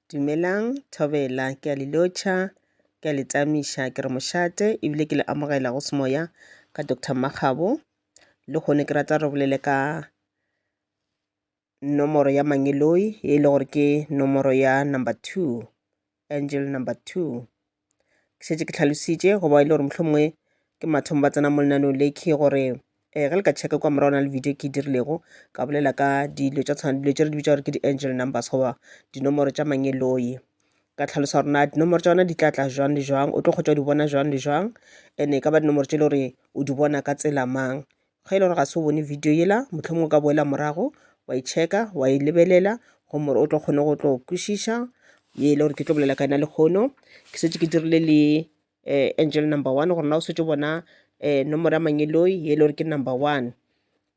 Dumelang, Thobela. Ke a le lotšha, ke a le tamiša, ke re mošate ebile ke le amogela go semoya ka Doctor Makgabo. Lehono ke rata re bolele ka nomoro ya Mangeloi e le gore ke nomoro ya number two Angel number two. Ke šetše ke tlhalositše go ba e le gore mohlomongwe ke mathomo ba tsena mo lenaneo le ke gore eh, ge le ka checka kwa morago na le video ke e dirilego ka bolela ka dilo tša tshwana dilo tše re di bitsa gore ke di-angel numbers goba dinomoro tša mangeloi ka tlhalosa gore na dinomoro tša yona di tla tla jwang le jwang o tlo kgotsa o di bona jwang le jwang and-e ka ba dinomoro tše e le gore o di bona ka tsela mang Ge e le gore ga se o bone video yela, mohlomongwe o ka boela morago wa e checka wa e lebelela gomme o tlo kgone go tlo kwešiša ye e le gore ke tlo bolela ka yona lehono ke setse ke dirile le um angel number one gore na o setse o bona um nomoro ya mangeloi ye e le gore ke number one.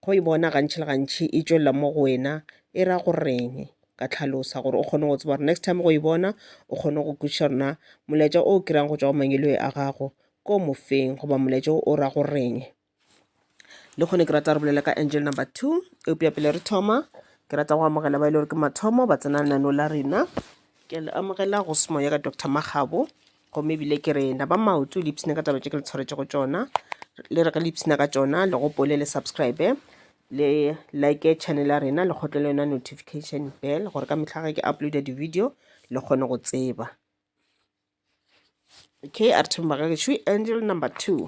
Go e bona gantši le gantši e tšwelela mo go wena e ra go reng? ka tlhalosa gore o kgone go tseba gore next time go e bona o kgone go kwešiša gore na molaetša o kry-ang go tšwa go mangeloi a gago ke o mofeng goba molaetša o ra go reng. le kgone ke rata re bolela ka angel number two eupša pele re thoma ke rata go amogela ba e le gore ke mathomo ba tsena nano la rena ke le amogela go semo ya ka dr magabo gomme ebile ke rena ba maoto le ipshina ka taba tše ke le tshwaretše go tšona le re ge le ipshina ka tšona le gopole le subscribe le like channel ya rena le kgotle le yona notification bell gore ka mehla ge ke uploada di-video le kgone go tseba okay a re thomba ka gešo angel number two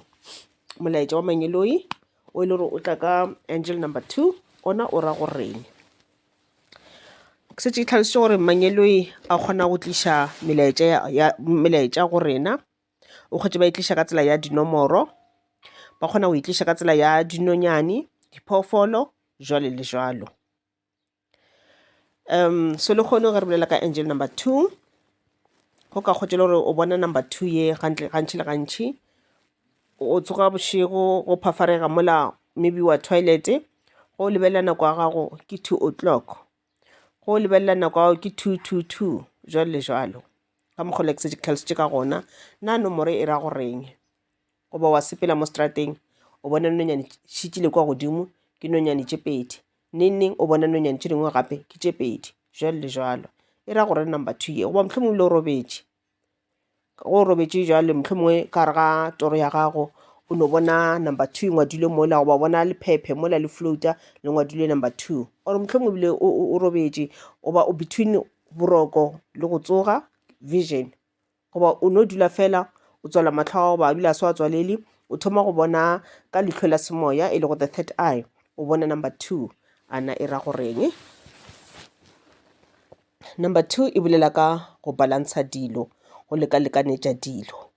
molaetša wa mangeloi o e le gore o tla ka angel number two ona o ra goreng setse e tlhalositse gore mangeloi a kgona go tliša melaetša go rena o kgwetše ba e tliša ka tsela ya dinomoro ba kgona go e tliša ka tsela ya dinonyane diphoofolo jwalo le jwalo. um se le kgone ge re bolela ka angel number two go ka kgotšela gore o bona number two ye gantle gantši le gantši o tsoga bošego go phafarega mola maybe wa toilet go lebelela nako ya gago ke two o'clock go lebelela nako ya gago ke two two two jwalo le jwalo ka mokgwa le tlhalositše ka gona na nomoro e ra goreng Goba wa sepela mo strateng, o bona nonyane šitile kwa godimo, ke nonyane tše pedi. Neng-neng o bona nonyane tše dingwe gape, ke tše pedi, jalo le jalo. E ra gore number two ye, goba mohlho mongwe le o robetše. Go o robetše jale, mohlho mongwe ka gare ga toro ya gago, o no bona number two e ngwadilwe mola, goba bona lephephe mola le float-a le ngwadilwe number two. Or mohlho mongwe ebile o robetše, goba o between boroko le go tsoga, vision. Goba o no dula fela o tswala mahlo a gago ba a dula a se wa tswalele, o thoma go bona ka lihlo la semoya e lego the third eye, o bona number two. A na e ra goreng? Number two e bolela ka go balansa dilo, go leka-lekanetša dilo.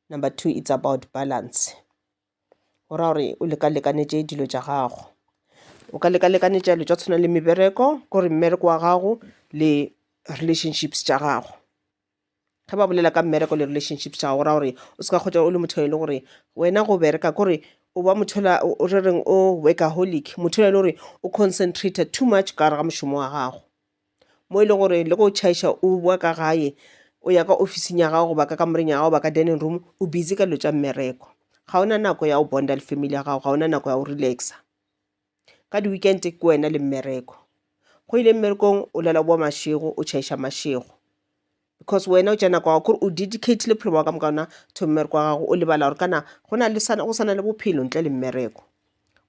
Number two it's about balance. Go ra gore o leka-lekanetše dilo tša gago. O ka leka-lekanetša dilo tša go tshwana le mebereko, ke gore mmereko wa gago le relationships tša gago. Ge ba bolela ka mmereko le relationships tša gago, go ra gore o seka hwetša o le motho e le gore wena go bereka ke gore o ba motho yola re reng o workaholic, motho yola e le gore o concentrated too much ka gare ga mošomo wa gago. mo e le gore le go tšhaiša o bowa ka gae o ya ka ofising ya gago goba ka kamoreng ya gago ba ka dining room o busy ka dilo tša mmereko ga ona nako ya go bonda le family ya gago ga ona nako ya go relaxa ka di-weekend ke wena le mmereko go ile mmerekong o lela o bowa mašego o tšhaiša mašego. because wena o tšea nako ya gago kore o dedicated bophelo bja gago ka moka gona to mmereko wa gago o lebala gore kana go na le go sana le bophelo ntle le mmereko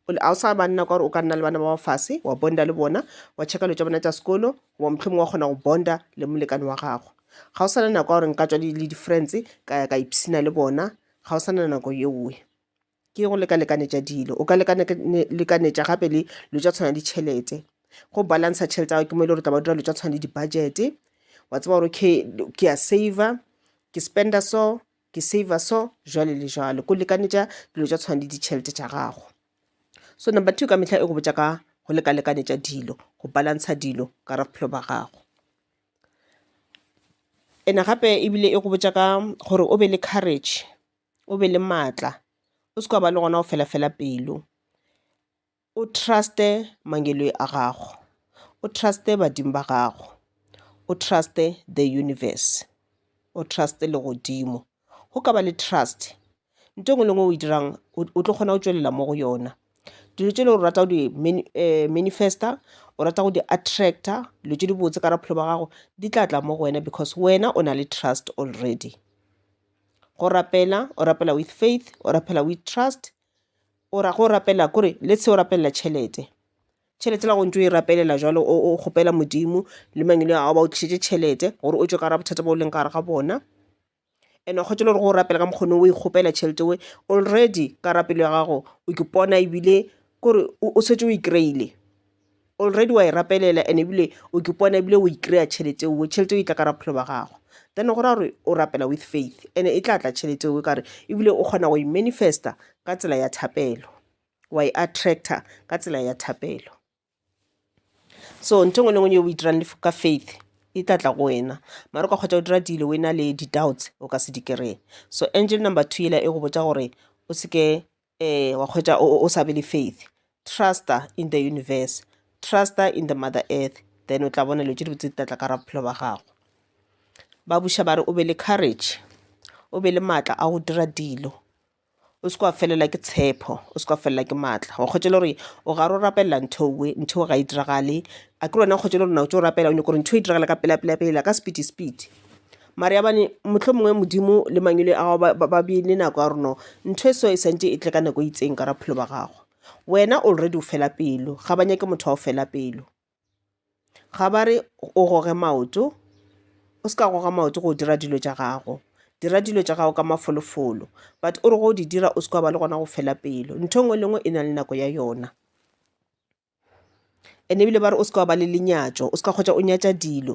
ga o sa ba nna ka gore o ka nna le bana ba fase wa bonda le bona wa checka dilo tša bona tša sekolo goba mohlomong wa kgona go bonda le molekane wa gagwe ga o sana nako ya gore nka tswa le di-friends ka ya ka ipshina le bona ga o sana nako yeoe Ke go lekalekanetša dilo. O ka lekalekanetša gape le dilo tša tshwana le ditšhelete. Go balancer tšhelete ya gago ke mo e le gore o tla ba o dira dilo tša tshwana le di-budget-e, wa tseba gore okay ke a saver, ke spender so, ke saver so, jwale le jwale. Ko lekanetša dilo tša tshwana le ditšhelete tša gago. So number two ka mehla e go botša ka go lekalekanetša dilo, go balancer dilo ka gare ga bophelo ba gago. Ene gape ebile e go botša ka gore o be le courage. o be le maatla o se ke wa ba le gona go fela fela pelo, o trust-e mangeloi a gago, o trust-e badimo ba gago, o trust-e the universe, o trust-e legodimo. Go ka ba le trust nto ngwe le ngwe o e dirang o tlo kgona go tšwelela mo go yona. Dilo tše le gore o rata go di manifest-a o rata go di attract-a dilo tše dibotse ka gare ga bophelo bja gago di tla tla mo go wena because wena o na le trust already. go rapela o rapela with faith o rapela with trust o ra go rapela kore le se o rapelela tšhelete tšhelete la go ntso e rapelela jwalo o kgopela Modimo le mang yo a ba o tlišetše tšhelete gore o tšwe ka gare ga bothata bo leng ka gare ga bona. And wa kgotša le gore go rapela ka mokgone o e kgopela tšhelete we already ka rapelo ya gago o ipona ebile kore o šetše o e kry-ile. already wa e rapelela and ebile o ke pona ebile o ikry-a tšhelete eo tšhelete eo e tla ka ra bophelo ba gago then go ra gore o rapela with faith and e tla tla tšhelete eo kare ebile o kgona go e manifesta ka tsela ya thapelo wa e attractor ka tsela ya thapelo so ntho ngwe le ngwe o itirang ka faith e tla tla go wena mara o ka kgotsa o dira dilo o e na le di-doubts o ka se di kry-e so angel number two ela e go botsa gore o seke Ee, wa hwetša o, o sa be le faith. Trusta in the universe. Trusta in the mother earth. Then o tla bona dilo tše dibotse di tla tla ka ra bophelo ba gago. Ba buša ba re o be le courage. O be le maatla a go dira dilo. O se kwa felela ke tshepo. O se kwa felela ke maatla. Wa hwetša le gore o gare o rapelela ntho we, ntho ga e diragale. A ke lona hwetša le gore na o tšo rapela o nyako gore ntho e diragale ka pela pela pela ka speedy speedy. Mariabane, mohlomongwe Modimo le mangwele a gago ba ba beile nako ya gore no ntho e so e santše e tle ka nako e itseng ka raphelo ba gago. Wena already o fela pelo, ga ba nyake motho wa go fela pelo. Ga ba re o goge maoto, o se ka goga maoto go dira dilo tša gago. Dira dilo tša gago ka mafolofolo, but o re go di dira o se ke wa ba le gona go fela pelo. Ntho e nngwe le e nngwe e na le nako ya yona. and ebile ba re o seka wa ba le lenyatšo o seka kgotsa o nyatša dilo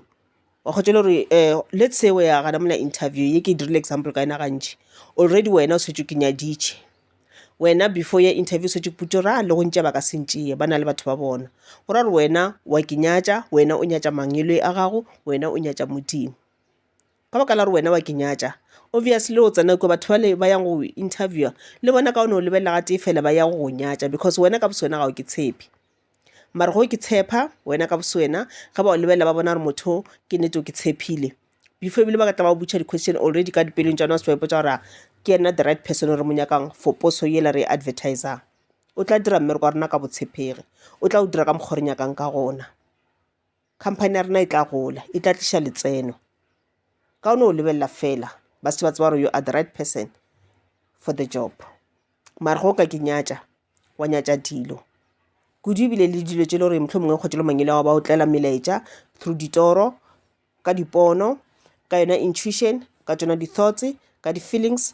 wa kgotsa le gore um let's say o ya gana mola interview ye ke dirile example ka yena gantši already wena o setse ke nyaditše wena before ya interview o setse ke putso ra le go ntšea ba ka se ntšee ba na le batho ba bona go ra gore wena wa ke nyatša wena o nyatša mangwele a gago wena o nyatša modimo ka baka la gore wena wa ke nyatša obviously o tsena kua batho bale ba yang go go interviewer le bona kaone o lebelela gatee fela ba ya go go nyatša because wena ka boswena ga o ke tshepe mare ge o ke tshepa wena ka boswena ge ba go lebelela ba bona gore motho o ke nnete o ke tshepile before ebile ba ka tla ba go botša di-question already ka dipelong tša bona o se ba ipotša gore a ke yena the right person o re mo nyakang for poso yela re e advertisang o tla dira mmereko wa rena ka botshepegi o tla o dira ka mokgwa o re nyakang ka gona. Company ya rena e tla gola, e tla tliša letseno. Ka o no lebelela fela, ba se ba tseba gore you are the right person for the job. Mara go ka ke nyatša, wa nyatša dilo. Kudu ebile le dilo tše le gore mohlomongwe mongwe kgotsa le mangele wa ba o tlela melaetša through ditoro, ka dipono, ka yona intuition, ka tšona di-thoughts, ka di-feelings.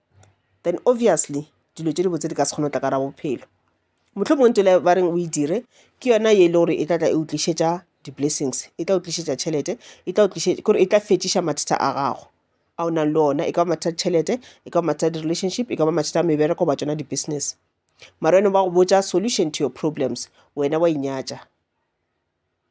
then obviously dilo tše dibotse di ka se kgone go tla ka gare ga bophelo. Mohlomongwe ntho yela ba reng o e dire ke yona ye e lego gore e tla tla e go tlišetša di-blessings, e tla go tlišetša tšhelete, e tla go tlišetša, kore e tla fetšiša mathata a gago a o nang le ona. E ka ba mathata a ditšhelete, e ka ba mathata a di-relationship, e ka ba mathata a mebereko goba tšona di-business. Mara wena ba go botša solution to your problems, wena wa inyatša.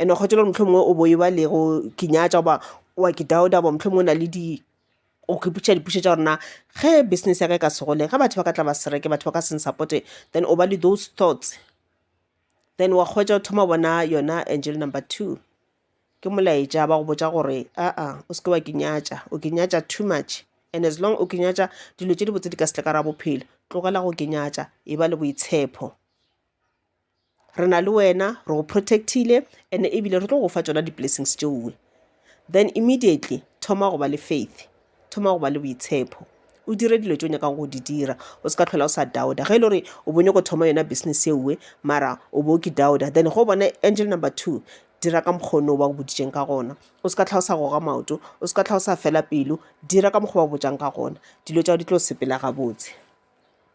And-e kgothatša gore mohlomongwe o bo e ba le go ke nyatša goba o a ke doubt-a goba mohlomongwe o na le di, o ipotšiša dipotšišo tša gore na ge business ya ka e ka se gole, ge batho ba ka tla ba se reke, batho ba ka se n-support-e, then o ba le those thoughts. Then wa hwetša o thoma go bona yona angel number two, ke molaetša ba go botša gore aa o se ke wa ke nyatša, o ke nyatša too much. And as long o ke nyatša, dilo tše dibotse di ka se tle ka gare ga bophelo, tlogela go ke nyatša, e ba le boitshepho. re na le wena re go protect-ile and ebile re tlo go fa tšona di blessings tšeoe. Then immediately thoma go ba le faith, thoma go ba le boitshepo, o dire dilo tše o nyakago go di dira, o se ka tlhola o sa doubter. Ge e le gore o bo nyako thoma yona business eoe mara o bo ke doubter, then ge o bona angel number two dira ka mokgwa ono ba go boditšeng ka gona, o se ka hlwa o sa goga maoto, o se ka hlwa o sa fela pelo, dira ka mokgwa ba go botšang ka gona, dilo tša gago di tlo sepela gabotse.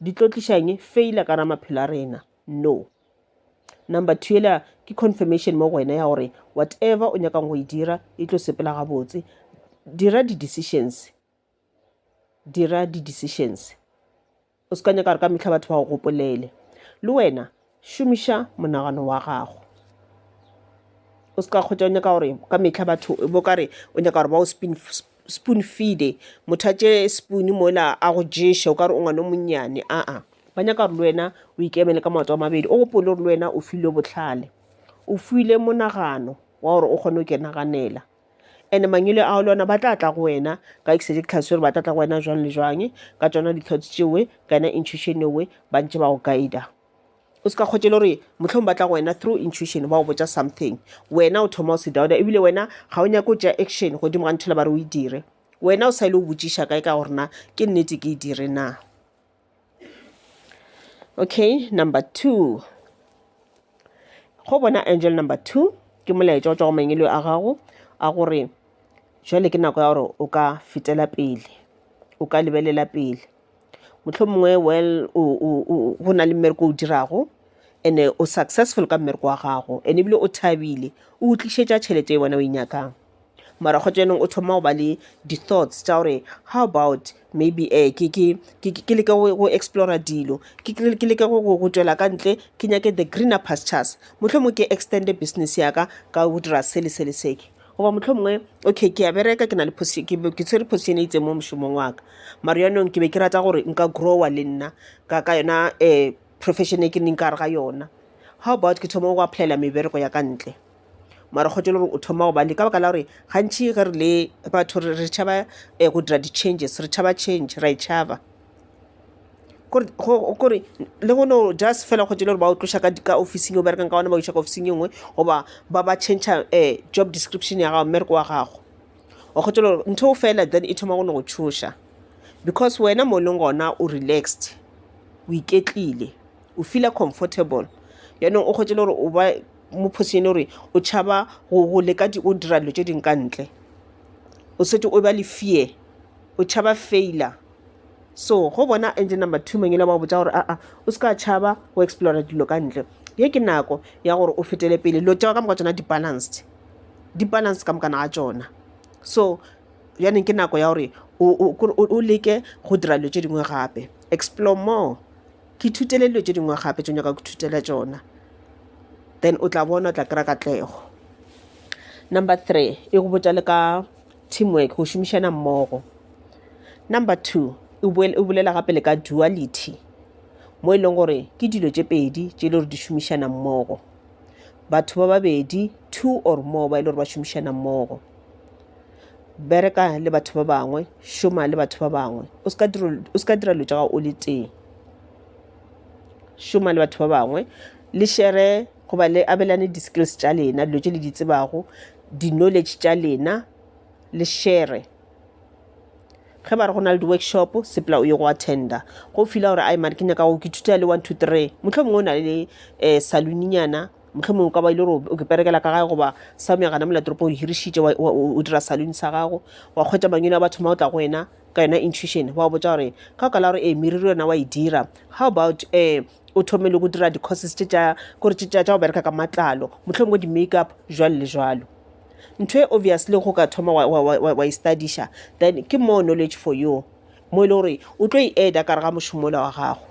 di tlo tlišang failure ka ra maphelo a rena no number two ela ke confirmation mo go wena ya gore whatever o nyakang go e dira e tlo sepela gabotse dira di-decisions dira di-decisions o se ka nyaka gore ka metlha batho ba go gopolele le wena Šomiša monagano wa gago. O se ka kgwetša o nyaka gore ka mehla batho bo ka re o nyaka gore ba o spin spoon feede motho a tše spoon mola a go ješe o ka re o ngwana o monnyane aa ba nyaka gore le wena o ikemele ka maoto a mabedi o gopole gore le wena o filwe bohlale o filwe monagano wa gore o kgone go ke naganela And-e mangwele ao le ona ba tla tla go wena ka exactly gore ba tla tla go wena jwang le jwang ka tsona di-thoughts tšeo kana intuition eo ba ntse ba go guide-a. O se ka kgotše le gore mohlomongwe ba tla go wena through intuition ba go botša something wena o thoma o se doubter ebile wena ga o nyake go tšea action godimo ga ntho e le ba re o e dire. Wena o sa ile go botšiša kae ka gore na ke nnete ke e dire na. Okay, number two. Go bona angel number two, ke molaetša o tšwa go mangelo a gago a gore jwale ke nako ya gore o ka fetela pele, o ka lebelela pele. Mohlomongwe well o o o go na le mmereko o o dirago and-e o successful ka mmereko wa gago and-e ebile o thabile, o go tlišetša tšhelete e wena o e nyakang. mara kgotsa yanong o thoma go ba le di thoughts tša gore how about maybe ke leke go explora dilo ke leke go tšwela ka ntle ke nyake the greener pastures. Mohlomongwe ke extend-e business ya ka ka go dira se le se le se. Goba mohlomongwe okay ke a bereka ke na le ke tshwere position e itseng mo mošomong wa ka, mara yanong ke be ke rata gore nka grow-a le nna ka ka yona profession e ke leng ka gare ga yona. How about ke thoma go apply-ela mebereko ya ka ntle. mara kgotho e le gore o thoma gobane ka baka la gore gantšhi ge re le batho re re tšhaba um go dira di-changes re tšhaba change ra e tšhaba kore le go no just fela kgotho e le gore ba o tloša ka ofising o berekang ka gona ba o iša ka ofising e nngwe goba ba ba change-a um job description ya gago mmereko wa gago wa kgotho e le gore ntho eo fela then e thoma go no go tšhoša because wena mo e leng gona o relaxed o iketlile o feeler comfortable yaanong o kgotho e le gore o ba mophosi ene gore o tšhaba go leka o dira dilo tše dingwe ka ntle o setse o ba le fear o tšhaba failure so go bona engine number two mang e le ba go botsa gore aa o se ka tšhaba go explora dilo ka ntle ye ke nako ya gore o fetele pele dilo tša ka moka tsona di-balanced di-balanced ka mokana ga tsona so bjaneng ke nako ya gore o leke go dira dilo tše dingwe gape explore more Ke ithutele dilo tše dingwe gape tše nyaka go ithutela tšona. Then o tla bona o tla kry-a katlego. Number three, e go botša le ka teamwork, go šomišana mmogo. Number two, e bolela gape le ka duality mo e leng gore ke dilo tše pedi tše e le gore di šomišana mmogo. Batho ba babedi, two or more, ba e le gore ba šomišana mmogo. bereka le batho ba bangwe šoma le batho ba bangwe o ska dira o ska dira dilo tša gago o le tee šoma le batho ba bangwe le shere goba le abelane di-skills tša lena dilo tše le di tsebago di-knowledge tša lena le shere ge ba re go na le di-workshop sepela o ye go attenda go fila gore ai mare ke nyaka go ke thuta le one two three mohlomongwe o na le um saloninyana mohlomong ka ba ile gore o ke perekela ka gae goba sa meagana molatoropo o hirišitše o dira salone sa gago wa kgwetsa mangwele a batho ma o tla go wena ka yona intuition wa botsa gore ka ka la gore ee meriri yona wa e dira how about um o thome le go dira di-courses tše tša kore tše tša go bereka ka matlalo motlhong bo di-make up jwalo le jwalo ntho e obviously go ka thoma wa e studiša then ke more knowledge for you mo e le gore o tlo e eda kare ga mošomola wa gago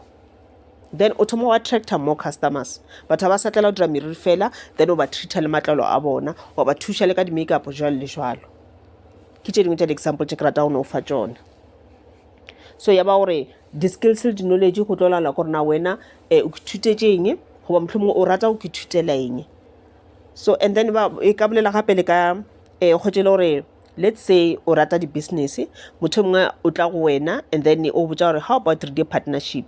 then o thoma wa attracta more customers batho ga ba sa tlela go dira meriri fela then o ba treata le matlalo a bona wa ba thuša le ka di-makeup jalo le jalo ke tše dingwe tša di-example tše ke rata go ne o fa tšone so ya ba gore di-skills le di-knowledge go tlo laola gore na wena um o ithutetše eng goba mohlomongwe o rata go ithutela eng so and then ba e ka bolela gape le ka um kgotse e le gore Let's say o rata di business, motho mongwe o tla go wena and then o botsa gore how about re dire partnership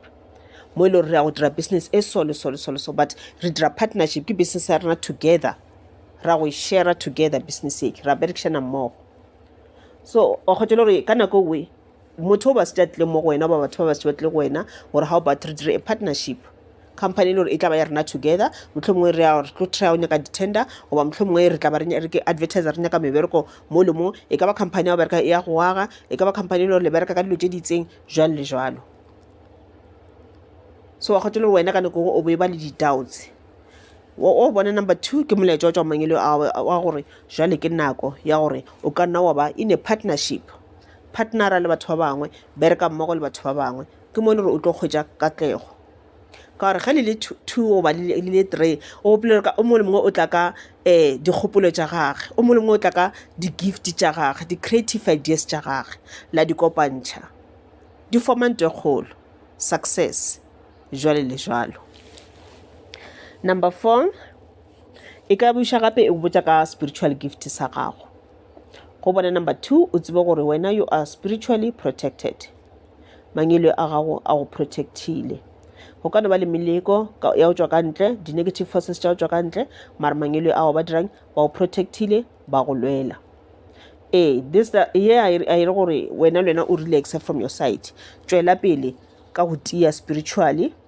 mo e le gore re ya go dira business e so le so le so le so but re dira partnership ke business ya rena together ra go e share together business e ra berekishana mmogo so wa kgotsa le gore ka nako nngwe motho o basitše a tlile mo go wena ba batho ba basitše ba tlile go wena gore ga o bat re dire a partnership company e le gore e tla ba ya rena together motlho mongwe re re tlo try o nyaka di-tender goba motlho mongwe re tla ba re ke advertiser re nyaka mebereko mo le mo e ka ba company ya go bereka ya go aga e ka ba company e le gore le bereka ka dilo tse di itseng jalo le jalo so wa kgotho le wena ka nako o bo e ba le di-doubts o bona number two ke molaetša wa tswa mangele wa gore jale ke nako ya gore o ka nna wa ba in a partnership partnera le batho ba bangwe, bereka mmogo le batho ba bangwe, ke mo e le gore o tlo hwetša katlego. Ka gore ge le le two goba le le three o gopola gore o mongwe le mongwe o tla ka dikgopolo tša gage, o mongwe le mongwe o tla ka di-gift tša gage, di-creative ideas tša gage, la di kopantšha di form-a ntho e kgolo, success, jwalo le jwalo. Number four, e ka buša gape e go botša ka spiritual gift sa gago. go bona number two o tsebe gore wena you are spiritually protected mangelo a gago a go protectile go ka no ba le meleko ya go tswa ka ntle di-negative forces tša go tswa ka ntle mara mangelo a gago ba dirang ba go protectile ba go lwela ee this ye a e re gore wena le wena o relaxe from your side tšwela pele ka go tia spiritually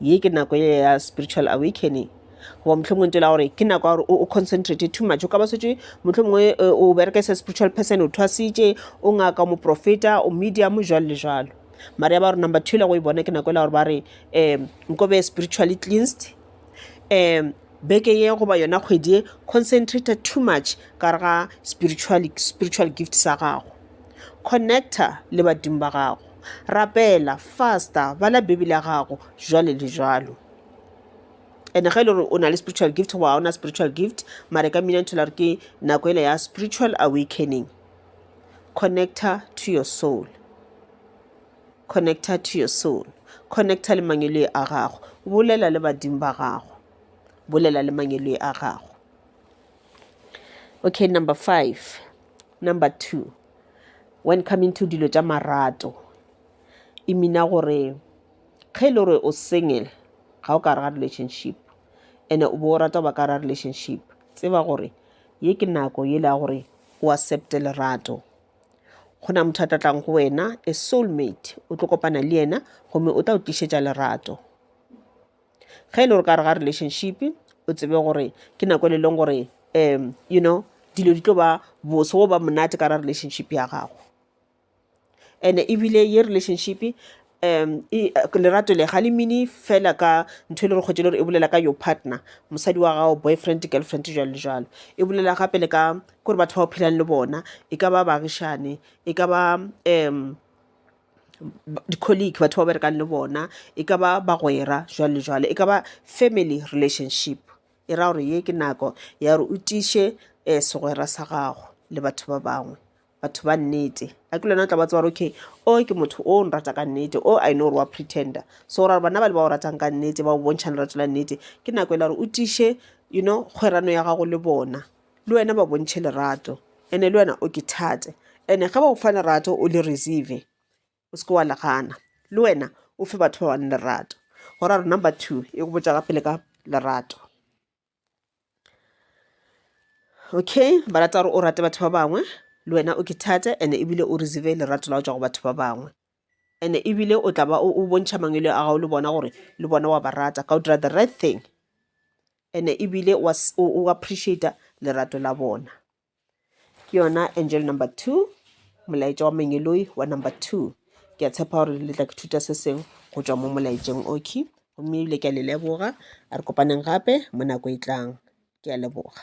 ye ke nako ye ya spiritual awakening goba mohlomongwe ntela gore ke nako ya gore o concentrate too much o ka ba setse mohlomongwe eh, o bereka se spiritual person o thwasitše o ngaka o moprofeta o medium jalo le jalo mare ya ba gore number two le go e bona ke nako ela gore ba re um nko be spiritually cleansed um beke ye goba yona kgwedi ye concentrate too much ka re ga spiritual, spiritual gift sa gago connector le badimo ba gago rapela fasta bala bibele ya gago jwale le jwalo and ge e le gore o na le spiritual gift goba ga o na spiritual gift mare ka mmina nthola gore ke nako ele ya spiritual awakening connecta to your soul connecta to your soul connecta le mangeloi a gago bolela le badimo ba gago bolela le mangeloi a gago okay number five number two When coming to dilo tša marato, e mina gore ge e le gore o single ga o ka re ga relationship ene o bo o rata go ba ka ra relationship, tseba gore ye ke nako ye le ya gore o accepte lerato. Go na motho a tla tlang go wena a soul mate o tlo kopana le yena gomme o tla o tlišetša lerato. ge e le gore ka gare ga relationship o tsebe gore ke nako e le leng gore um you know dilo di tlo ba bose goba monate ka gare ga relationship ya gago. And-e ebile ye relationship lerato le ga le mine fela ka ntho e le gore kgwedi e le gore e bolela ka your partner mosadi wa gago boyfriend girlfriend jwalo le jwalo. E bolela gape le ka gore batho ba o phelang le bona e ka ba baagišane e ka ba . di-colleague batho ba berekang le bona e ka ba bagwera jwalo le jwalo e ka ba family relationship e ra gore ye ke nako ya gore o tiiše um segwera sa gago le batho ba bangwe batho ba nnete a ke le wena o tla ba tseba gore okay o ke motho o nrata ka nnete o I know gore wa pretender so go ra gore bana ba le ba o ratang ka nnete ba o bontšha lerato la nnete ke nako e le ya gore o tiiše you know kgwerano ya gago le bona. le wena ba bontšhe lerato ene le wena o ke thate ene ge ba go fa lerato o le receive o seke wa legana le wena o fe batho ba bane lerato go ra gore number two e go botša gape le ka lerato okay ba rata gore o rate batho ba bangwe le wena o ke thate ene ebile o receive lerato la go tswa go batho ba bangwe Ene ebile o tla ba o bontšha mangwele a gago le bona gore le bona wa ba rata ka o dira the right thing ene ebile o appreciata lerato la bona ke yona angel number two molaetša wa mengeloi wa number two ke a tshepa gore le tla ke thuta se sengwe go tšwa mo molaetšeng okay gomme ebile ke a le leboga a re kopaneng gape mo nako e tlang ke a leboga